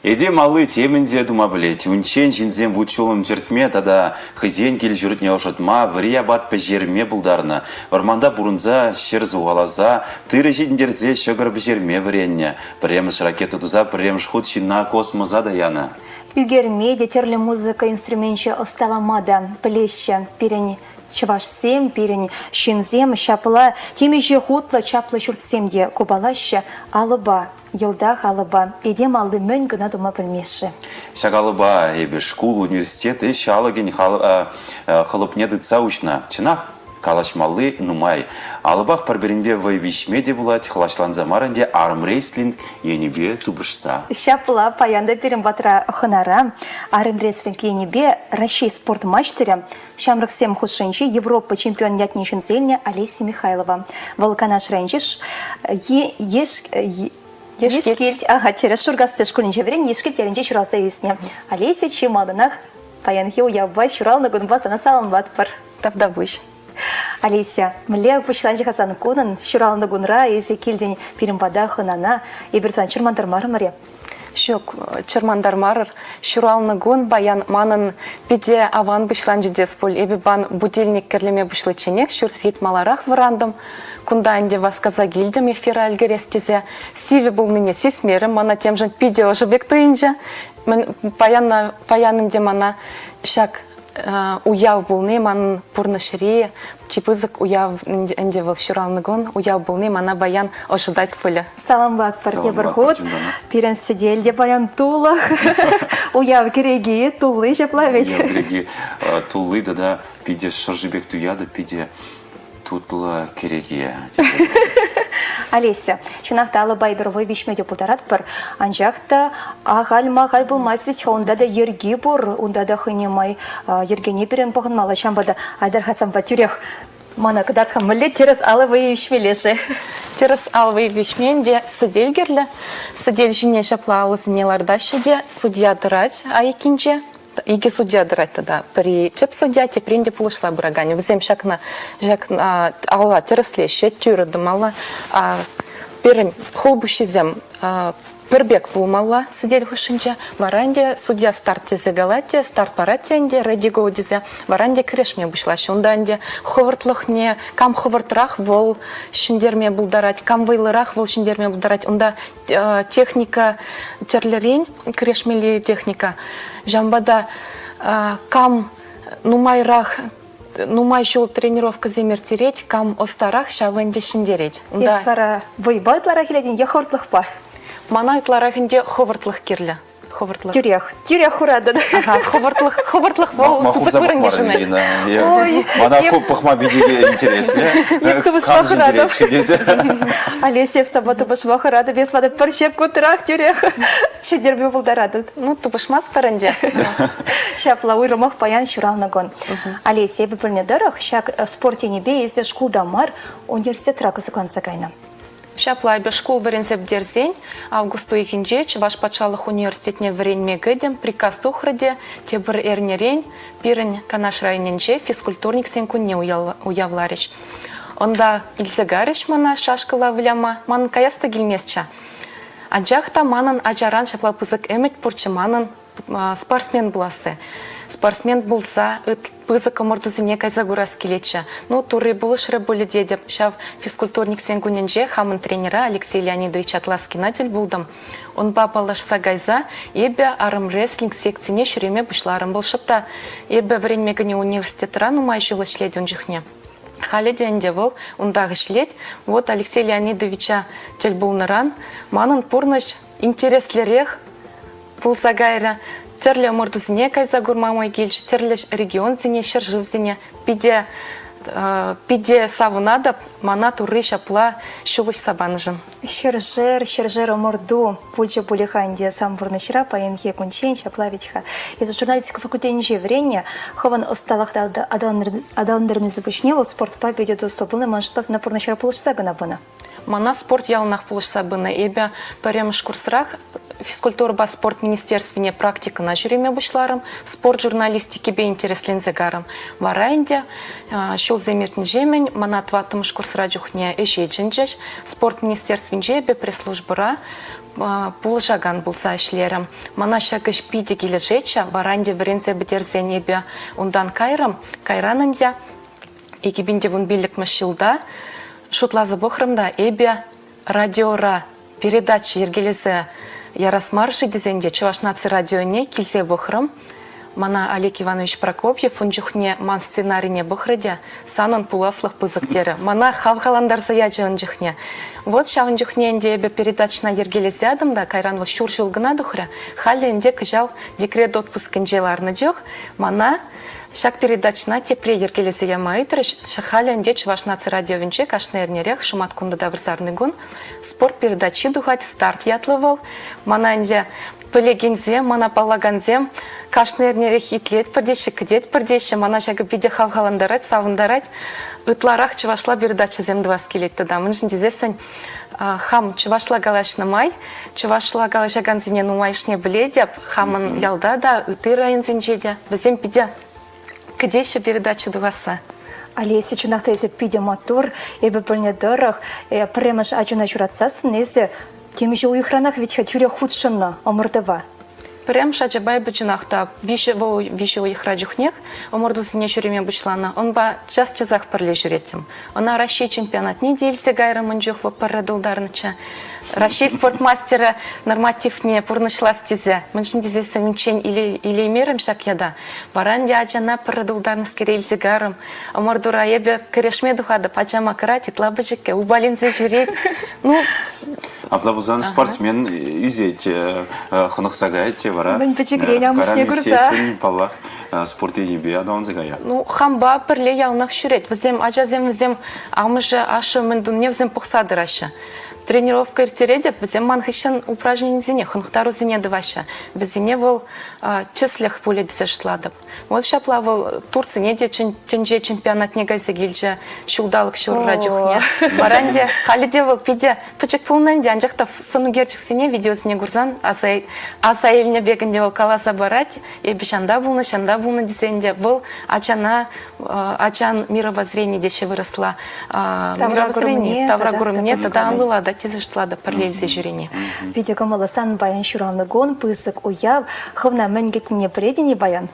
Этем алли темӗн те тума пӗлет. Унччен ҫынсем вут-ҫулӑм чӗртме тата хӑйсен кил-ҫуртне ӑшӑтма, вӗри апат пӗҫерме пултарнӑ. Вӑрманта пурӑнса, ҫӗр сухаласа, тырӑ ҫитӗнтерсе ҫӑкӑр пӗҫерме вӗреннӗ. Пӗрремӗш ракета туса пӗрремӗш хут ҫынна космоса та янӑ. Ӳкерме те тӗрлӗ музыка инструменчӗ ӑсталама та пӗлеҫҫӗ пирӗн Чӑвашсем пирӗн ҫынсем ҫапла темиҫе хутлӑ чаплӑ ҫуртсем те купалаҫҫӗ алӑпа, йӑлтах алӑпа. Этем алли мӗн кӑна тума пӗлмест-ши? Ҫак алӑпа эпир шкул, университет ӗҫ алӑкӗн хӑлӑпне тытса уҫнӑ. Чӑнах, калаҫмалли нумай. Алӑпах пӗр-пӗринпе вӑй виҫме те пулать, хӑлаҫланса мар ӗнтӗ армрестлинг енӗпе тупӑшса. Ҫапла, паян та пирӗн патра хӑнара армрестлинг енӗпе Раҫҫей спорт маҫтӑрӗ Ҫамрӑксем хушшинчи Европа чемпионӗ ятне ҫӗнселнӗ Олеся Михайлова. Вӑл Канаш районӗнчи Ешкилт, аха, терӗс Шуркасси шкулӗнче вӗреннӗ Ешкилт ялӗнче ҫуралса ӳснӗ. Олеся чи малтанах паянхи уявпа, ҫуралнӑ кунпа сана саламлатпӑр. Тавтапуҫ. Олеся, мӗнле пуҫланчӗ-ха сан кунӑн? Ҫуралнӑ кунра эсӗ килтӗн пирӗн пата хӑнана, эпир сан чӑрмантармарӑмӑр-и? Ҫук, чӑрмантармарӑр. Ҫуралнӑ кун паян манӑн пите аван пуҫланчӗ тес пуль. Эпӗ пан будильник кӗрлеме пуҫличченех ҫурт сийт маларах вӑрантӑм. Кунта ӗнтӗ васкаса килтӗм эфира ӗлкӗрес тесе. Сивӗ пулнине сисмерӗм. Мана темшӗн питӗ ӑшӑ пек туйӑнчӗ. Мӗн паян паян ӗнтӗ мана ҫак Уяв пулни ман пурнӑҫри чи пысӑк уяв ӗнтӗ вӑл ҫуралнӑ кун. Уяв пулни мана паян ӑшӑтать пулӗ. Саламлатпӑр тепӗр хут. Пирӗн сӗтел те паян тулӑх. Уяв кӗреки тулли ҫапла вӗт. Уяв кӗреки тулли тата питӗ шӑрши пек туятӑп, питӗ тутлӑ кӗреке. Олеся, чӑнах та алӑпа эпир вӑй виҫме те пултаратпӑр, анчах та ахаль-махаль пулмасть ведь-ха, унта та йӗрки пур, унта та хӑйне май йӗркене пирӗн пӑхӑнмалла. Ҫавӑнпа та Айтар Хасанпа тӳрех мана кӑтартха мӗнле тӗрӗс ал вӑйӗ виҫмелле-ши? Тӗрӗс ал вӑйӗ виҫмен те сӗтел кирлӗ. Сӗтел ҫине ҫапла алӑсене лартаҫҫӗ те судья тӑрать айӑккинче. икӗ судья тӑрать тата. Пӗри тӗп судья, теприн те пулӑшса пыраканӗ. Вӗсем ҫакна, ҫакна алла тӗрӗслеҫҫӗ, тӳрӗ тӑмалла. Пирӗн хулпуҫҫисем пӗр пек пулмалла сӗтел хушшинче. Вара ӗнтӗ судья старт тесе калать те, старт парать те ӗнтӗ, ready go тесе, вара ӗнтӗ кӗрешме пуҫлаҫҫӗ. Унта ӗнтӗ хӑвӑртлӑхне, кам хӑвӑртрах вӑл ҫӗнтерме пултарать, кам вӑйлӑрах вӑл ҫӗнтерме пултарать, унта техника тӗрлӗрен, кӗрешмелли техника. Ҫавӑнпа та кам нумайрах нумай ҫул тренировкӑсем ирттерет, кам ӑстарах ҫавӑ ӗнтӗ ҫӗнтерет. Унта... Эс вара вӑйпа ытларах илетӗн е хӑвӑртлӑхпа? Мана ытларах ӗнтӗ хӑвӑртлӑх кирлӗ. Хӑвӑртлӑх. Тӳрех, тӳрех хуратӑн. Хӑвӑртлӑх, хӑвӑртлӑх вӑл пысӑк вырӑн йышӑнать. Ой, мана ку пӑхма питӗ интереслӗ. Кам ҫӗнтерет тесе. Олеся эп сапа тупӑшма хӑратӑп, эс ватӑ пӗр ҫепкунтрах тӳрех ҫӗнтерме пултаратӑн. Ну, тупӑшмастпӑр ӗнтӗ. Ҫапла, уйрӑмах паян ҫуралнӑ кун. Олеся, эпӗ пӗлнӗ тӑрӑх, ҫак спорт енӗпе эсӗ шкулта мар, университетра кӑсӑкланса кайнӑ. Ҫапла, эпӗ шкул вӗренсе пӗтерсен август уйӑхӗнче Чӑваш патшалӑх университетне вӗренме кӗтӗм, приказ тухрӗ те тепӗр эрнерен пирӗн Канаш районӗнче физкультурниксен кунне уявларӗҫ. Унта илсе карӗҫ мана шашкӑла выляма. Манӑн каяс та килместчӗ. Анчах та манӑн ачаран ҫапла пысӑк ӗмӗт пурччӗ манӑн. спортсмен пуласси. Спортсмен пулса пысӑк ӑмӑртусене кайса курас килетчӗ. Ну, Турри пулӑшрӗ пулӗ тетӗп. Ҫав физкультурниксен кунӗнче хамӑн тренера Алексей Леонидович Атласкина тӗл пултӑм. Унпа паллашса кайса эпӗ армрестлинг секцине ҫӳреме пуҫларӑм. Вӑл шӑпта эпӗ вӗренме кӗнӗ университетра нумай ҫул ӗҫлет ун чухне. Халӗ те ӗнтӗ вӑл унтах ӗҫлет. Вот Алексей Леонидовича тӗл пулнӑран манӑн пурнӑҫ Интереслӗрех пулса кайрӗ. Тӗрлӗ ӑмӑртусене кайса курма май килчӗ, тӗрлӗ регионсене, ҫӗршывсене питӗ питӗ савӑнатӑп мана Турри ҫапла ҫул уҫса панӑшӑн. Ҫӗршер, ҫӗршер ӑмӑрту пулчӗ пулӗ-ха ӗнтӗ сан пурнӑҫра паянхи кунччен ҫапла вӗт-ха. Эсӗ журналистика факультетӗнче вӗреннӗ, хӑвӑн ӑсталӑхта аталантарнисӗр пуҫне вӑл спортпа питӗ туслӑ пулнӑ, маншӑн сана пурнӑҫра пулӑшса кӑна пынӑ. Мана спорт яланах пулӑшса пынӑ. Эпӗ пӗрремӗш курсрах физкультурӑпа спорт министерствине практикӑна ҫӳреме пуҫларӑм, спорт журналистикипе интересленсе карӑм. Вара ӗнтӗ ҫулсем иртнӗҫемӗн мана тӑваттӑмӗш курсра чухне ӗҫе чӗнчӗҫ. Спорт министерствинче эпӗ пресс-службӑра пулӑшакан пулса ӗҫлерӗм. Мана ҫак ӗҫ питӗ килӗшетчӗ, вара ӗнтӗ вӗренсе пӗтерсен эпӗ унтан кайрӑм. Кайран ӗнтӗ Икӗ пин те кун пиллӗкмӗш ҫулта шутласа пӑхрӑм та эпӗ радиора передача йӗркелесе ярас мар-ши тесен те Чӑваш наци радионе килсе пӑхрӑм. Мана Олег Иванович Прокопьев ун чухне ман сценарине пӑхрӗ те санӑн пуласлӑх пысӑк терӗ. Мана хавхалантарса ячӗ ун чухне. Вот ҫавӑн чухне ӗнтӗ эпӗ передачӑна йӗркелесе ятӑм та кайран вӑл ҫур ҫул кӑна тухрӗ. Халӗ ӗнтӗ кӑҫал декрет отпускӗнче ларнӑ чух мана Ҫак передачӑна тепре йӗркелесе яма ыйтрӗҫ халӗ ӗнтӗ Чӑваш наци радиовӗнче кашни эрнерех шӑматкунта та вырсарни кун спорт передачи тухать «Старт» ятлӑ вӑл. Мана ӗнтӗ пӗлекенсем, мана паллакансем кашни эрнерех итлетпӗр теҫҫӗ, кӗтетпӗр теҫҫӗ. Мана ҫакӑ питӗ хавхалантарать, савӑнтарать. Ытларах чӑвашла передачӑсем тӑвас килет тата. Мӗншӗн тесессӗн Хам чӑвашла калаҫнӑ май, чӑвашла калаҫакансене нумайӑшне пӗлетӗп. Хамӑн ялта та, ытти районсенче те вӗсем питӗ кӗтеҫҫӗ передача тухасса. Олеся, чӑнах та эсӗ питӗ маттур. Эпӗ пӗлнӗ тӑрӑх, э, пӗрремӗш ачана ҫуратсассӑн эсӗ темиҫе уйӑхранах вӗт-ха тӳрех хутшӑннӑ ӑмӑртӑва. Пӗрремӗш ачапа эпӗ чӑнах та виҫӗ вӑл виҫӗ уйӑхра чухнех ӑмӑртусене ҫӳреме пуҫланӑ. Унпа час-часах пӗрле ҫӳреттӗм. Ӑна Раҫҫей чемпионатне те илсе кайрӑмӑн чух вӑл пӗрре тултарнӑччӗ. Раҫҫей спорт мастерӗ нормативне пурнӑҫлас тесе мӗншӗн тесен унччен илеймерӗм ҫак ята. Вара ӗнтӗ ачана пӗрре тултарнӑскере илсе кайрӑм. ӑмӑртура эпӗ кӗрешме тухатӑп ачама кӑрать ытла пӗчӗккӗ упаленсе ҫӳрет. Ну, Апла пулсан спортсмен ӳсет, хӑнӑхса каять те вара. Мӗн пӗчӗкрен амӑшне курса. Паллах, спорт енӗпе аталанса кая. Ну, хампа пӗрле яланах ҫӳрет. Вӗсем, ачасем, вӗсем амӑшӗ, ашшӗ мӗн тунне вӗсем пӑхса тӑраҫҫӗ. Тренировка ирттеретӗп, вӗсем ман хыҫҫӑн упражненисене, хӑнӑхтарусене тӑваҫҫӗ. Вӗсене вӑл тӗслӗх пулӗ тесе шутлатӑп. Вот ҫапла вӑл Турцине те тӗнче чемпионатне кайса килчӗ ҫулталӑк ҫурра чухне. Вара ӗнтӗ халӗ те вӑл питӗ пӗчӗк пулнӑ ӗнтӗ, анчах та сӑнукерчӗксене видеосене курсан аса, аса илнӗ пек ӗнтӗ вӑл каласа парать. Эпӗ ҫанта пулнӑ, ҫанта пулнӑ тесе ӗнтӗ вӑл ачана ачан мировоззрение теҫҫӗ вырӑсла мировоззрение тавракурӑмне тата анлӑлатать тесе шутлатӑп пӗрле илсе ҫӳрени. Питӗ кӑмӑллӑ сан баян ҫуралнӑ кун, пысӑк уяв. Хӑвна мӗн кӗтнине пӗлетӗн-и баян?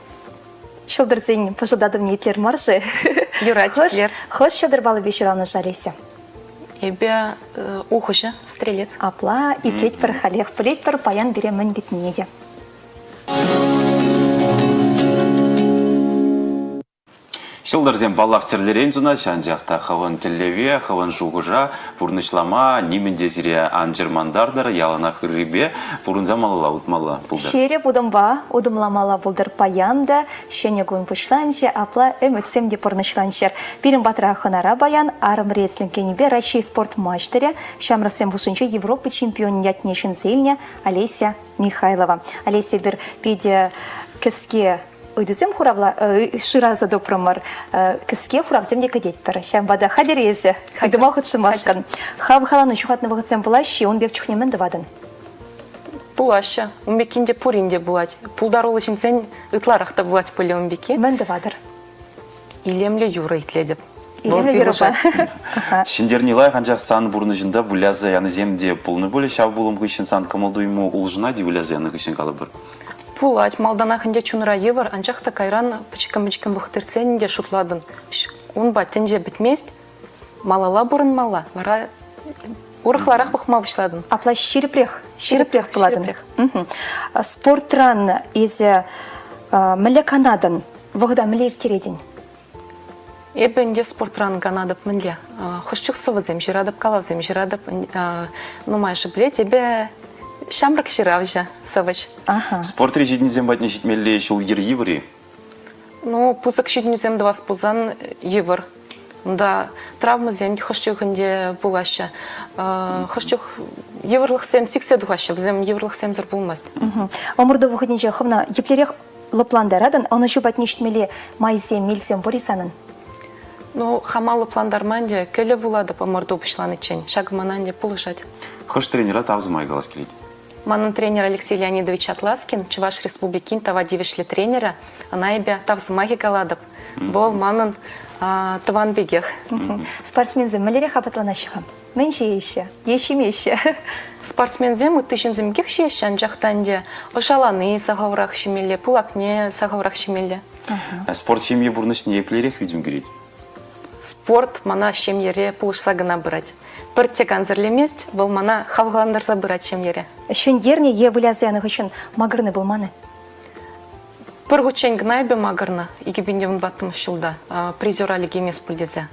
Ҫӑлтӑрсен пӑшӑлтатӑвне итлер мар-ши? Юрать, итлер. Хӑш ҫӑлтӑр палӑкӗпе ҫуралнӑ-ши, Олеся? Эпӗ ухӑҫӑ, стрелец. Апла итлетпӗр халех. Пӗлетпӗр, баян пире мӗн кӗтнине те. Ҫӑлтӑрсем, паллах, тӗрлӗрен сунаҫҫӗ, анчах та хӑвӑн тӗллеве, хӑвӑн шухӑша пурнӑҫлама нимӗн те сире ан чӑрмантартӑр, яланах ыррипе пурӑнса малалла утмалла пултӑр. Ҫирӗп утӑмпа утӑмламалла пултӑр паян та. Ҫӗнӗ кун пуҫланчӗ, апла ӗмӗтсем те пурнӑҫланччӑр. Пирӗн патра хӑнара паян арӑм рестлинг енӗпе Раҫҫей спорт маҫтӑрӗ, ҫамрӑксем хушшинче Европа чемпионӗн ятне ҫӗнсе илнӗ Олеся Михайлова. Олеся бир питӗ кӗске ыйтусем хуравла шыраса тупрӑмӑр кӗске хуравсем те кӗтетпӗр ҫавӑнпа та хатӗр эсӗ ыйтӑма хутшӑнмашкӑн хавхалану ҫухатнӑ вӑхӑтсем пулаҫҫӗ ун пек чухне мӗн тӑватӑн пулаҫҫӗ ун пеккин те пурин те пулать пултаруллӑ ҫынсен ытларах та пулать пулӗ ун пекки мӗн тӑватӑр Илемлӗ юрӑ итлетӗп. Илемлӗ юрӑпа. Ҫӗнтерни лайӑх, анчах сан пурнӑҫӑнта выляса янисем те пулнӑ пулӗ. Ҫав пулӑм хыҫҫӑн сан кӑмӑл-туйӑму улшӑнать-и выляса янӑ хыҫҫӑн калӑпӑр? Пулать. Малтанах ӗнтӗ чунра йывӑр, анчах та кайран пӗчӗккӗн-пӗчӗккӗн пӑхтӑртсен те шутлатӑн, ун пат тӗнче пӗтмест, Малалла пурӑнмалла, вара урӑхларах пӑхма пуҫладӑм. Апла ҫирӗпрех, ҫирӗпрех пулатӑн. Спортран эсӗ мӗнле канатӑн? Вӑхӑта мӗнле ирттеретӗн? Эпӗ ӗнтӗ спортран канатӑп мӗнле? Хӑш чух сӑвӑсем ҫыратӑп, калавсем ҫыратӑп. Нумайӑшӗ пӗлет, эпӗ ҫамрӑк ҫыравҫӑ, сӑвӑҫ. Спортри ҫитӗнӳсем патне ҫитмелли ҫул йӗри-вӗри Ну, пысӑк ҫитӗнӳсем тӑвас пулсан йывӑр. Унта травмӑсем хӑш чух ӗнтӗ пулаҫҫӗ. Хӑш чух йывӑрлӑхсем сиксе тухаҫҫӗ. Вӗсем йывӑрлӑхсемсӗр пулмасть. Ӑмӑрту вӑхӑтӗнче хӑвна еплерех лӑплантаратӑн, ӑнӑҫу патне ҫитмелли майсем, мелсем пур-и санӑн? Ну, хама лӑплантарма ӗнтӗ кӗлӗ вулатӑп ӑмӑрту пуҫланиччен. Ҫакӑ мана ӗнтӗ пулӑшать. Хӑш тренера тав сӑмай калас килет? Манӑн тренер Алексей Леонидович Атласкин, Чӑваш Республикин тава тивӗҫлӗ тренерӗ, ӑна эпӗ тав сӑмахӗ калатӑп. Вӑл манӑн тӑван пекех. Спортсменсем мӗнлерех апатланаҫҫӗ-ха? Мӗн ҫиеҫҫӗ е ҫимеҫҫӗ? Спортсменсем ытти ҫынсем пекех ҫиеҫҫӗ, анчах та ӗнтӗ ӑшалани сахалрах ҫимелле, пылакне сахалрах ҫимелле. Спорт ҫемье пурнӑҫне еплерех витӗм кӳрет? Спорт мана ҫемьере пулӑшса кӑна пырать. Пӗртте кансӗрлемест, вӑл мана хавхалантарса пырать ҫемьере. Ҫӗнтернӗ е выляса янӑ хыҫҫӑн макӑрнӑ пулман-и? Пӗр хутчен кӑна эпӗ макӑрнӑ, икӗ пин те вунпаттӑмӗш ҫулта призера лекеймест пуль тесе.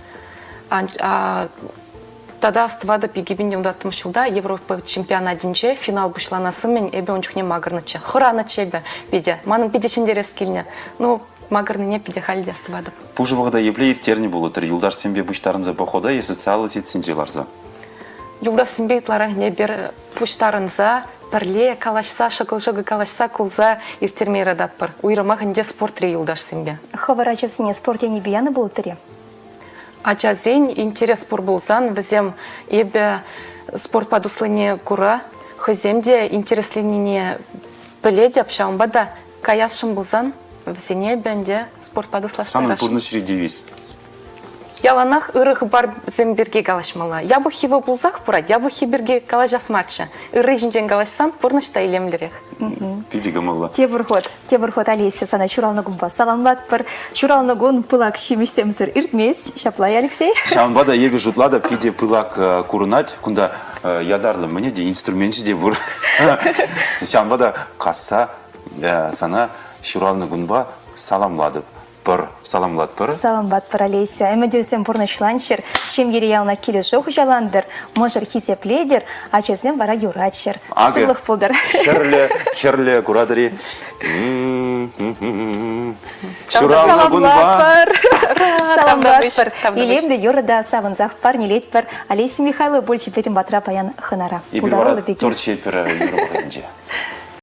Тата астӑватӑп, икӗ пин те унтаттӑмӗш ҫулта Европа чемпионатӗнче финал пуҫланас умӗн эпӗ ун чухне макӑрнӑччӗ. Хӑранӑччӗ эпӗ питӗ. Манӑн питӗ ҫӗнтерес килнӗ. Ну, макӑрнине питӗ халь те астӑватӑп. Пушӑ вӑхӑта епле ирттернӗ пулӑттӑр юлташсемпе пуҫтарӑнса похода е социаллӑ сетьсенче ларса? Юлташсемпе ытларах эпир пуҫтарӑнса пӗрле калаҫса, шӑкӑл-шӑкӑл калаҫса кулса ирттерме юрататпӑр. Уйрӑмах ӗнтӗ спортри юлташсемпе. Хӑвӑр ачасене спорт енӗпе янӑ пулӑттӑр-и? Ачасен интерес пур пулсан вӗсем эпӗ спортпа туслине кура хӑйсем те интересленине пӗлетӗп, ҫавӑнпа та каясшӑн пулсан вӗсене эпӗ ӗнтӗ спортпа туслашса Санӑн пурнӑҫри девиз? Яланах ырӑ хыпарсем пирки калаҫмалла. Япӑх йывӑр пулсах пырать, япӑххи пирки калаҫас марччӗ. Ырри ҫинчен калаҫсан пурнӑҫ та илемлӗрех. Питӗ кӑмӑллӑ. Тепӗр хут. Тепӗр хут Олеся сана ҫуралнӑ кунпа саламлатпӑр. Ҫуралнӑ кун пылак ҫимӗҫсемсӗр иртмест. Ҫапла, Алексей? Ҫавӑнпа та эпӗ шутлатӑп, питӗ пылак э, курӑнать. Кунта э, ятарлӑ мӗне те инструменчӗ те пур. Ҫавӑнпа та касса э, сана ҫуралнӑ кунпа саламлатӑп. Пӑр, саламлатпӑр. Саламлатпӑр, Олеся. Ӗмӗтӳсем пурнӑҫланччӑр, ҫемьере яланах килӗшӳ хуҫалантӑр, мӑшӑр хисеплетӗр, ачасем вара юратчӑр. Акӑ, сывлӑх пултӑр. Хӗрлӗ, хӗрлӗ куратӑр-и? Ҫуралнӑ кунпа. Саламлатпӑр. Илемлӗ юрӑ та савӑнсах парнелетпӗр. Олеся Михайлова пулчӗ пирӗн патра паян хӑнара. Эпир вара торт ҫиетпӗр юрӑ вӑхӑтӗнче.